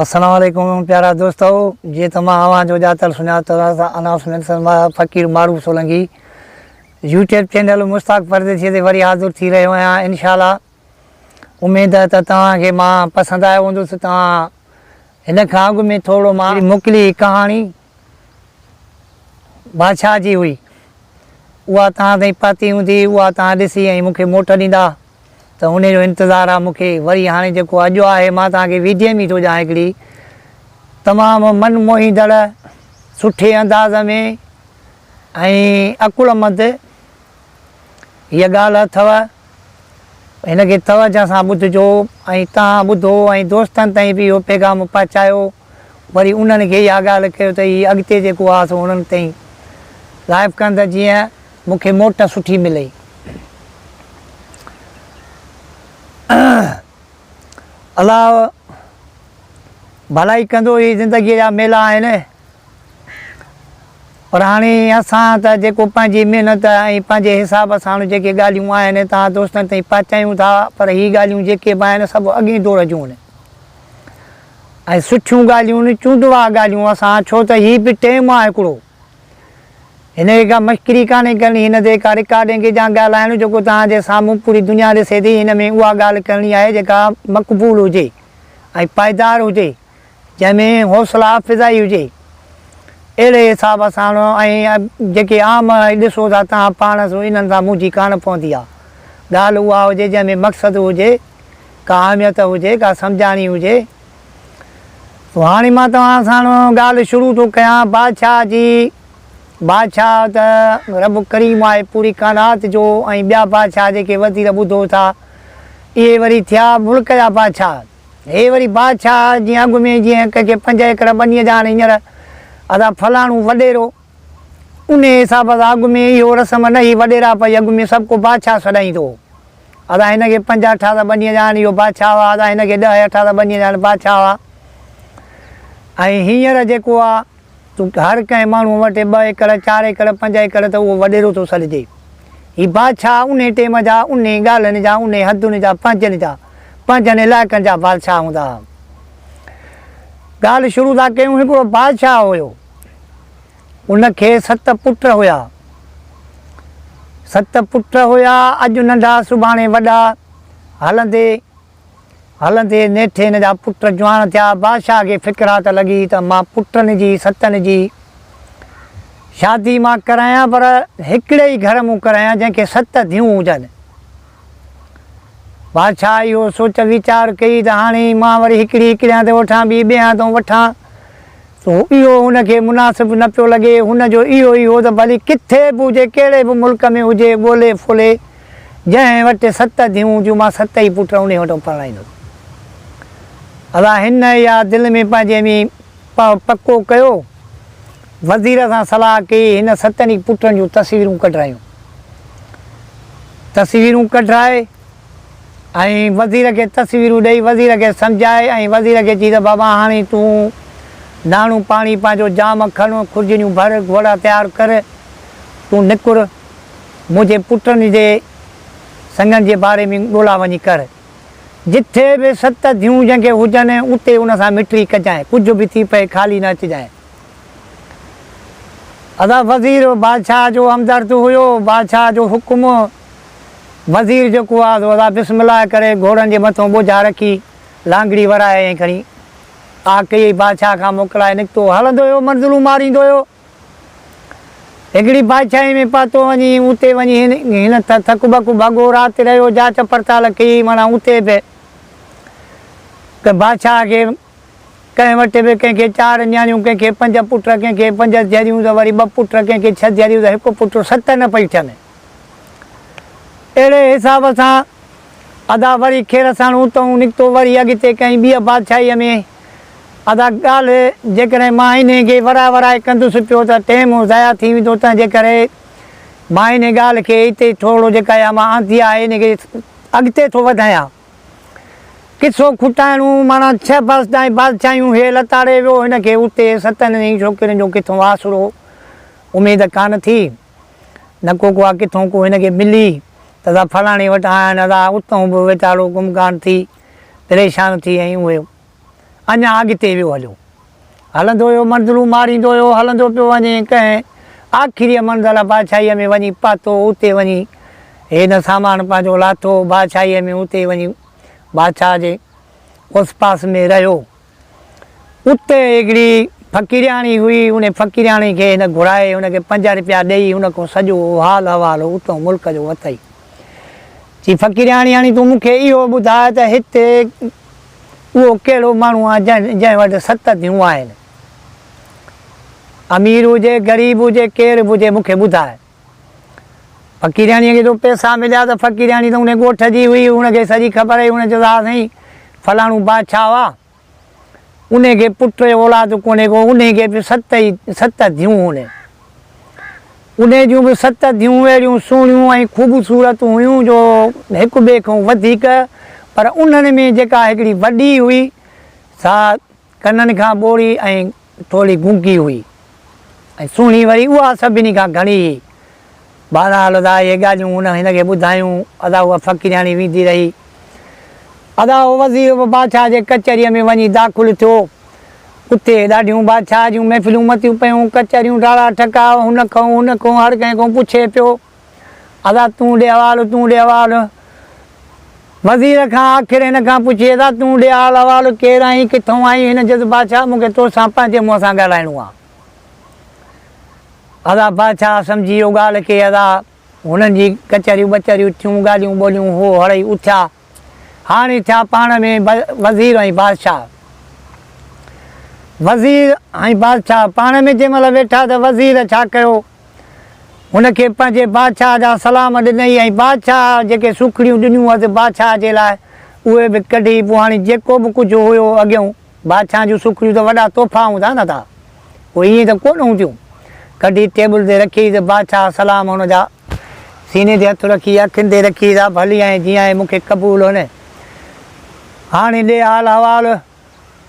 السلام عليڪم پيارا دوستو جي ته مان اوهان جو ڄاتل سڃاتل announcement Faqir Maroof Solangi YouTube channel Mushtaq Pardesi تي وري حاضر ٿي رهيو آهيان ان شاء الله اميد ته توهان کي مان پسند آيو هوندس توهان هن کان اڳ ۾ ٿورو مان موڪلي ڪهاڻي بادشاهه جي هئي، اها توهان تائين پهتي هوندي، اها توهان ڏسي ۽ مون کي موٽ ڏيندا ته انهي جو انتظار آ مون کي. وري هاڻي جيڪو اجهو آهي، مان توهان کي ويڌيء ۾ ئي ٿو ڄاڻان هڪڙي تمام من موهيندڙ، سٺي انداز ۾ ۽ عقلمند، هيء ڳالهه اٿئو، هن کي توجه سان ٻڌجو ۽ توهان ٻڌو ۽ دوستن تائين به اهو پيغام پهچايو، وري انهن کي اها ڳالهه ڪيو ته هي اڳتي جيڪو آهي سو انهن تائين لائيو ڪن ته جيئن مون کي موٽ سٺي ملي. الله ڀلائي ڪندو، هي زندگيء جا ميلا آهن. پر هاڻي اسان ته جيڪو پنهنجي محنت ۽ پنهنجي حساب ساڻ جيڪي ڳالهيون آهن توهان دوستن تائين پهچايون ٿا پر هي ڳالهيون جيڪي به آهن سڀ اڳئين دور جون آهن ۽ سٺيون ڳالهيون آهن چونڊوا ڳالهيون اسان ڇو ته هي به ٽيم آهي هڪڙو هن کي ڪا مشڪري ڪانهي ڪرڻي هن تي ڪا رڪارڊنگ جا ڳالهائڻ جيڪو توهان جي سامهون پوري دنيا ڏسي ٿي هن ۾ اها ڳالهه ڪرڻي آهي جيڪا مقبول هجي ۽ پائيدار هجي جنهن ۾ حوصلا افزائي هجي. اهڙي حساب سان ۽ جيڪي عام ڏسو ٿا تان پاڻ سو انهن سان مونجهي ڪانه پوندي آ. ڳالهه اها هجي جنهن ۾ مقصد هجي، ڪا اهميت هجي، ڪا سمجهاڻي هجي. سو هاڻي مان توهان سان ڳالهه شروع ٿو ڪيان بادشاهه جي. بادشاهه ته رب ڪريم آهي پوري ڪائنات جو ۽ ٻيا بادشاهه جيڪي وزير ٻڌو ٿا اهي وري ٿيا ملڪ جا بادشاهه. هي وري بادشاهه جي اڳ ۾ جيئن ڪنهنکي پنج ايڪڙ ٻنيء جا هاڻي هينئر اسان فلاڻو وڏيرو، انهيء حساب سان اڳ ۾ اهو رسم نه هئي، وڏيرا پئي اڳ ۾ سڀ ڪو بادشاهه سڏائيندو هو. اسان هن کي پنج اٺاس ٻنيء جا هاڻي اهو بادشاهه هئا، اسان هن کي ڏهه اٺاس ٻنيء جا هاڻي بادشاهه هئا. ۽ هينئر جيڪو آ. چونڪه هر ڪنهن ماڻهوء وٽ ٻه ايڪڙ، چار ايڪڙ، پنج ايڪڙ ته اهو وڏيرو ٿو سڏجي. هي بادشاهه انهي ٽيم جا، انهي ڳالهين جا، انهي حدن جا، پنهنجن جا، پنهنجن علائقن جا بادشاهه هوندا ها. ڳالهه شروع ٿا ڪيون هڪ بادشاهه هيو. ان کي ست پٽ هيا. ست پٽ هيا، اڄ ننڍا سڀاڻي وڏا هلندي. هلندي نيٺ هن جا پٽ جوان ٿيا. بادشاهه کي فڪر ها ته لڳي ته مان پٽن جي ستن جي شادي مان ڪرايان پر هڪڙي ئي گهر مون ڪرايان جنهن کي ست ڌيون هجن. بادشاهه اهو سوچ ويچار ڪئي ته هاڻي مان وري هڪڙي ئي ڪريان ته وٺان ٻي ٻئي هنڌئون وٺان سو اهو هن کي مناسب نه پيو لڳي. هن جو اهو ئي هو ته ڀلي ڪٿي به هجي ڪهڙي به ملڪ ۾ هجي ڳولي ڦولي جنهن وٽ ست ڌيئون هونديون، مان ست ئي پٽ انهي وٽ پرڻائيندس. ادا هن اها دل ۾ پنهنجي ۾ پڪو ڪيو. وزير سان صلاح ڪئي، هن ستن ئي پٽن جون تصويرون ڪڍرايون. تصويرون ڪڍرائي ۽ وزير کي تصويرون ڏئي، وزير کي سمجهائي ۽ وزير کي چئي ته بابا هاڻي تون ناڻو پاڻي پنهنجو جام کڻ، خرجنيون ڀر، گهوڙا تيار ڪر، تون نڪر منهنجي پٽن جي سڱن جي باري ۾ ڳولا وڃي ڪر. جتي به ست ڌيون جنگيون هجن، اتي ان سان مٽري ڪجانء، ڪجهه به ٿي پئي خالي نه اچجانء. ادا وزير بادشاهه جو همدرد هيو، بادشاهه جو حڪم، وزير جيڪو آ سو ادا بسم الله ڪري گهوڙن جي مٿون ٻوجها رکي، لانگڙي ورائي ۽ کڻي آ ڪيئي بادشاهه کان موڪلائي نڪتو. هلندو هيو منزلون ماريندو هيو. هڪڙي بادشاهي ۾ پاتو وڃي اتي وڃي هن ٿڪ ٻڪ ڀڳو رات رهيو جاچ پڙتال ڪئي معنيٰ اتي به ته بادشاهه کي ڪنهن وٽ به ڪنهن کي چار نياڻيون ڪنهن کي پنج پٽ ڪنهن کي پنج ڌيئريون ته وري ٻه پٽ ڪنهن کي ڇهه ڌيئريون ته هڪ پٽ ست نه پئي ٺهن اهڙي حساب سان ادا وري خير سان اتئون نڪتو وري اڳتي ڪنهن ٻيء بادشاهيء ۾ ادا ڳالهه جيڪڏهن مان انهي کي ورائي ورائي ڪندس پيو ته ٽيم ضايع ٿي ويندو تنهنجي ڪري مان انهي ڳالهه کي اتي ٿورڙو جيڪا اها مان آندي آهي انهي کي اڳتي ٿو وڌايان. قصو کوٽائڻو ماڻا ڇهه برس تائين بادشاهيون هي لتاڙي ويو هن کي اتي ستن ڏهين ڇوڪرين جو ڪٿون آسرو اميد ڪانه ٿي نه ڪو ڪو آ ڪٿون ڪو هن کي ملي ته ادا فلاڻي وٽ آيا آهن ادا اتون به ويٽاڙو ڪم ڪانه ٿي. پريشان ٿي ۽ اهي اڃا اڳتي ويو هليو. هلندو ويو منزلون ماريندو ويو هلندو پيو وڃي ۽ ڪنهن آخريء منزل بادشاهيء ۾ وڃي پاتو اتي وڃي هن سامان پنهنجو لاٿو بادشاهيء ۾ اتي وڃي بادشاهه جي اوسپاس ۾ رهيو. اتي هڪڙي فقيرياڻي هئي، ان فقيرياڻي کي هن گهرائي، هن کي پنج رپيا ڏيئي، هن کان سڄو اهو حال احوال اتئون ملڪ جو وتئي. چي فقيرياڻي هاڻي تون مون کي اهو ٻڌاء ته هتي اهو ڪهڙو ماڻهو آهي جنهن جنهن وٽ ست ڌيون آهن. امير هجي غريب هجي ڪير به هجي مون کي ٻڌاء. فقيرياڻيء کي جو پئسا مليا ته فقيرياڻي ته ان ڳوٺ جي هئي، ان کي سڄي خبر هئي، هن چيس ها سائين فلاڻو بادشاهه هئا، ان کي پٽ ۽ اولاد ڪونهي ڪو، ان کي به ست ئي ست ڌيئون هن، ان جون به ست ڌيئون اهڙيون سهڻيون ۽ خوبصورت هيون جو هڪ ٻئي کان وڌيڪ، پر انهن ۾ جيڪا هڪڙي وڏي هئي سا ڪنن کان ٻوڙي ۽ ٿوري گونگي هئي ۽ سهڻي وري اها سڀني کان گهڻي هئي. بهرحال ادا اهي ڳالهيون هن هن کي ٻڌايون. ادا اها فقيرياڻي ويندي رهي. ادا اهو وزير به بادشاهه جي ڪچهريء ۾ وڃي داخل ٿيو. اتي ڏاڍيون بادشاهه جون محفلون متيون پيون، ڪچهريون ڊاڙا ٽڪا، هن کانئون هن کانئون هر ڪنهن کانئون پڇي پيو. ادا تون ڏي حوالو تون ڏي حوالو وزير کان آخر هن کان پڇي ادا تون ڏي حال حوالو ڪير آهين ڪٿئون آهين هن چيس بادشاهه مون کي تو سان پنهنجي منهن سان ڳالهائڻو آهي ادا بادشاهه سمجهي ويو ڳالهه کي ادا هنن جي ڪچهريون ٻچهريون ٿيون ڳالهيون ٻولهيون هو هڙئي اٿيا هاڻي ٿيا پاڻ ۾ وزير ۽ بادشاهه. وزير ۽ بادشاهه پاڻ ۾ جنهن مهل ويٺا ته وزير ڇا ڪيو، هن کي پنهنجي بادشاهه جا سلام ڏنئي ۽ بادشاهه جيڪي سوکڙيون ڏنيون هئس بادشاهه جي لاء، اهي به ڪڍي پوء هاڻي جيڪو به ڪجهه هيو اڳيئون، بادشاهن جون سوکڙيون ته وڏا تحفا هوندا هوندا ٿا، اهي ائين ته ڪونه هونديون. ڪڍي ٽيبل تي رکيئي ته بادشاهه سلام هن جا. سيني تي هٿ رکي اکين تي رکيئي ته ڀلي آهين جيئن آهين مون کي قبول هونء. هاڻي ڏي حال احوال.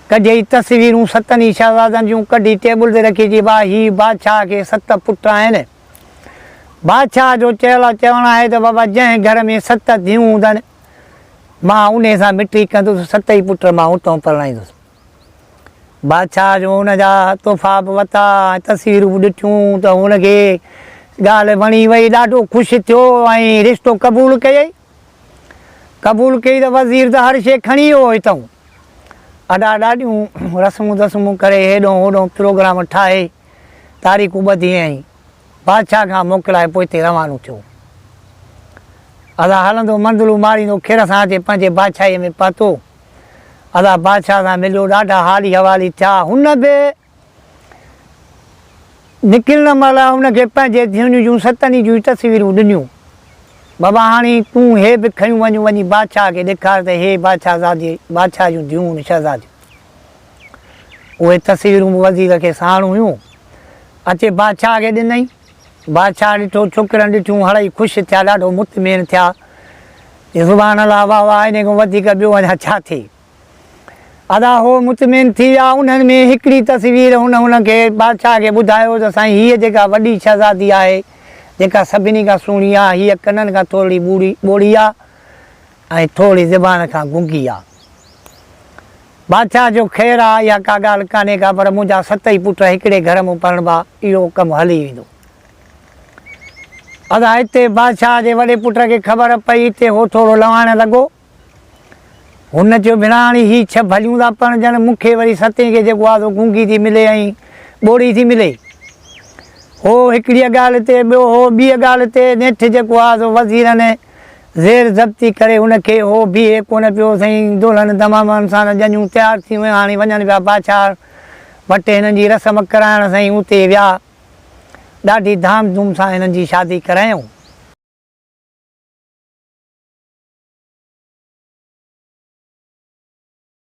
ڪڍيئي تصويرون ستن ئي شهزادن جون ڪڍي ٽيبل تي رکي چئي ڀاء هي بادشاهه کي ست پٽ آهن. بادشاهه جو چيل چوڻ آهي ته بابا جنهن گهر ۾ ست ڌيئون هوندن، مان انهيء سان مٺي ڪندس، ست ئي پٽ مان اتئون پرڻائيندس. بادشاهه جو ان جا تحفا به ورتا ۽ تصويرون به ڏٺيون ته هن کي ڳالهه وڻي وئي، ڏاڍو خوش ٿيو ۽ رشتو قبول ڪيئي. قبول ڪيئي ته وزير ته هر شيء کڻي ويو اتئون اڏا ڏاڏيون رسمون دسمون ڪري هيڏئون هوڏئون پروگرام ٺاهي تاريخون ٻڌيئين ۽ بادشاهه کان موڪلائي پوء اتي روانو ٿيو. ادا هلندو منزلون ماريندو کير سان اچي پنهنجي بادشاهيء ۾ پهتو. ادا بادشاهه سان مليو، ڏاڍا حالي حوالي ٿيا. هن به نڪرڻ مهل هن کي پنهنجي ڌيڻي جون ستن ئي جون تصويرون ڏنيون. بابا هاڻي تون هي به کنيون وڃ، وڃي بادشاهه کي ڏيکار ته هي بادشاهزادي، بادشاهه جون ڌيون ۽ شهزاديون. اهي تصويرون به وزير کي ساڻ هيون. اچي بادشاهه کي ڏنائين. بادشاهه ڏٺو، ڇوڪرن ڏٺيون، هڙئي خوش ٿيا، ڏاڍو مطمئن ٿيا. چيائين، سبحان الله، واهه واهه، انهي کان وڌيڪ ٻيو اڃا ڇا ٿئي؟ ادا هو مطمئن ٿي ويا. انهن ۾ هڪڙي تصوير هن هن کي، بادشاهه کي، ٻڌايو ته سائين هيء جيڪا وڏي شهزادي آهي، جيڪا سڀني کان سهڻي آهي، هيء ڪنن کان ٿورڙي ٻوڙي، ٻوڙي، آ. ۽ ٿوري زبان کان گنگي آ. بادشاهه جو خير آ، اها ڪا ڳالهه ڪانهي ڪا، پر منهنجا ست ئي پٽ هڪڙي گهر ۾ پرڻبا، اهو ڪم هلي ويندو. ادا هتي بادشاهه جي وڏي پٽ کي خبر پئي تي هو ٿورو لواڻڻ لڳو. هن چيو، ڀيڻاڻي هي ڇهه ڀليون ٿا پرڻجن، مون کي وري ستين کي جيڪو آ سو گنگي ٿي ملي ۽ ٻوڙي ٿي ملي. هو هڪڙيء ڳالهه تي، ٻيو هو ٻيء ڳالهه تي، نيٺ جيڪو آ سو وزيرن ۽ زير ضبطي ڪري ان کي هو بيهي ڪونه پيو سائين دولهن دمامن سان ڄڃون تيار ٿي ويون هاڻي وڃن پيا باڇار وٽ هنن جي رسم ڪرائڻ سائين اتي ويا ڏاڍي ڌام ڌوم سان هنن جي شادي ڪرايائون.